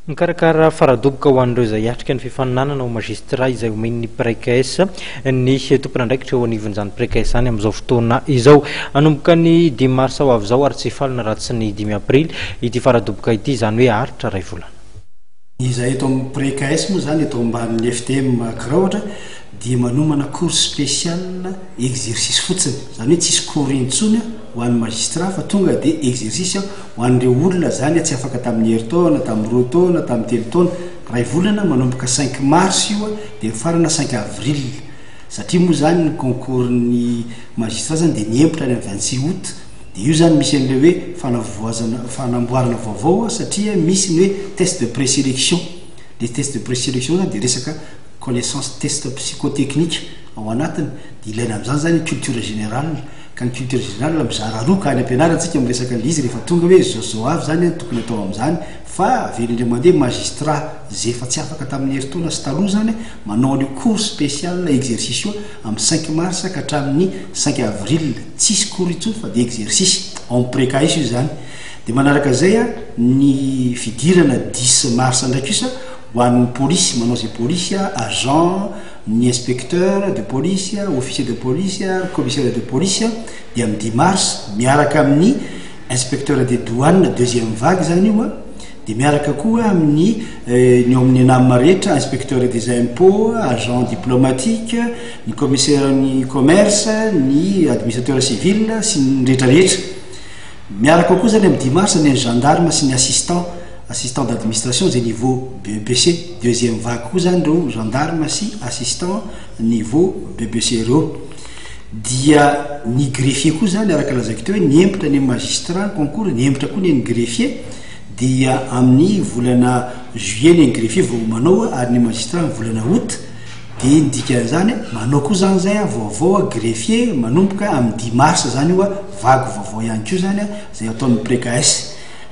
Mikarakara faradoboka ho an'ireo izay hiatrika ny fifaninanana ho magistrat izay omen'ny Precaes ny tompon'andraikitra eo anivon'izany Precaes izany amin'izao fotoana izao. Hanomboka ny dimy marsa ho avy izao ary tsy hifalina raha tsy ny dimy aprily ity faradoboka ity, izany hoe haharitra iray volana. Ny izahay eto amin'ny Precaes moa izany, eto ambanin'ny FTM Crowd, dia manomana cours spécial exercice fotsiny, izany hoe tsy hisy cours intsony. ho an'ny magistrat fa tonga de exercice aho ho an'ireo olona zany tsy afaka tamin'ny herintaona tamin'ny roa taona tamin'ny telo taona ray volana manomboka cinq mars io de mifarana cinq avril satria moa zany ny concours ny magistrat zany de mihembotra any vingt six aout de io zany misy an'ilay hoe fanavoazana fanamboarana vaovao satria misy ny hoe test de présélection le test de présélection zany de resaka connaissance test psychotechnique ao anatiny de ilaina amin'izany zany culture générale Ka ny culture générale mizara roa ka any ampianarantsika miresaka an'ilay izy rehefa tonga hoe zao sy zao avy izany no tokony atao amin'izany fa avy eo indrindra mandeha magistrat izay efa tsy afaka tamin'ny herintaona sy taloha izany manao an'io cours spécial exercice io amin'ny cinq mars ka hatramin'ny cinq avril tsisy cours intsony fa dia exercice ao amin'ny precais io izany dia manaraka izay a ny fidirana dix mars ndraiky io sa ho an'ny polisy manao izay polisy a agent Ny inspecteur de police, officier de police ary commissaire de police dia amin'ny dimy mars miaraka amin'ny inspecteur des douanes deuxième vague izany io an, dia miaraka koa amin'ny ny ao amin'ny ENAM rehetra, inspecteur des impots, agent diplomatique, ny commissaire-n'ny commerce, ny administrateur civil sy ny rehetra rehetra. Miaraka ao koa izany amin'ny dimy mars ny gendarmes sy ny assistant. assistant d'administration izay niveau BEPC, deuxième vague koa izany ireo gendarmes sy assistant niveau BEPC ireo. Dia ny greffier koa izany araka lazaiko teo hoe nihemotra ny magistrat ny concours, nihemotra koa ny an'ny greffier, dia amin'ny volana juillet ny an'ny greffier vao manao ary ny magistrat amin'ny volana aout, dia ny dikan'izany manao koa izany izay aho vaovao aho greffier manomboka amin'ny dix mars izany io aho, vague vaovao ihany koa izany izay ataon'ny precaes.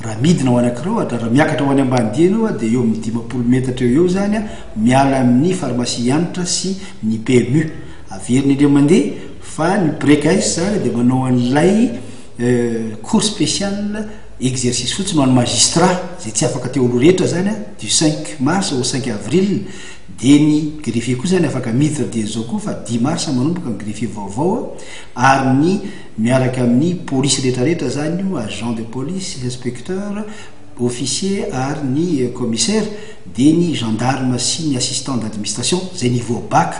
Raha midina ho any Akrohatra, raha miakatra ho any Ambanidia ianao a, dia eo amin'ny dimampolo metatra eo ho eo izany a, miala amin'ny Pharmacie Hanitra sy ny PMU. Averiny indray mandeha fa ny Break Ice izany dia manao an'ilay cours spécial exercice fotsiny ho an'ny magistrat izay tsy afaka teo aloha rehetra izany a, du cinq mars au cinq avril, dia ny greffier koa izany afaka miditra dieny izao koa fa dix mars manomboka ny greffier vaovao a, ary ny Miaraka amin'ny polisy rehetrarehetra izany io, agent de police, inspecteur, officier ary ny commissaire, dia ny gendarme sy ny assistant d'adminstation izay niveau bac,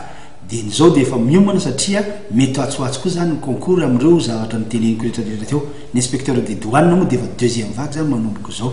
dia ny izao dia efa miomana satria mety ho atsy ho atsy koa izany ny concours amin'ireo zavatra noteneniko rehetrarehetra teo. Ny inspecteur des douanes moa dia efa deuxième vague izany manomboka izao.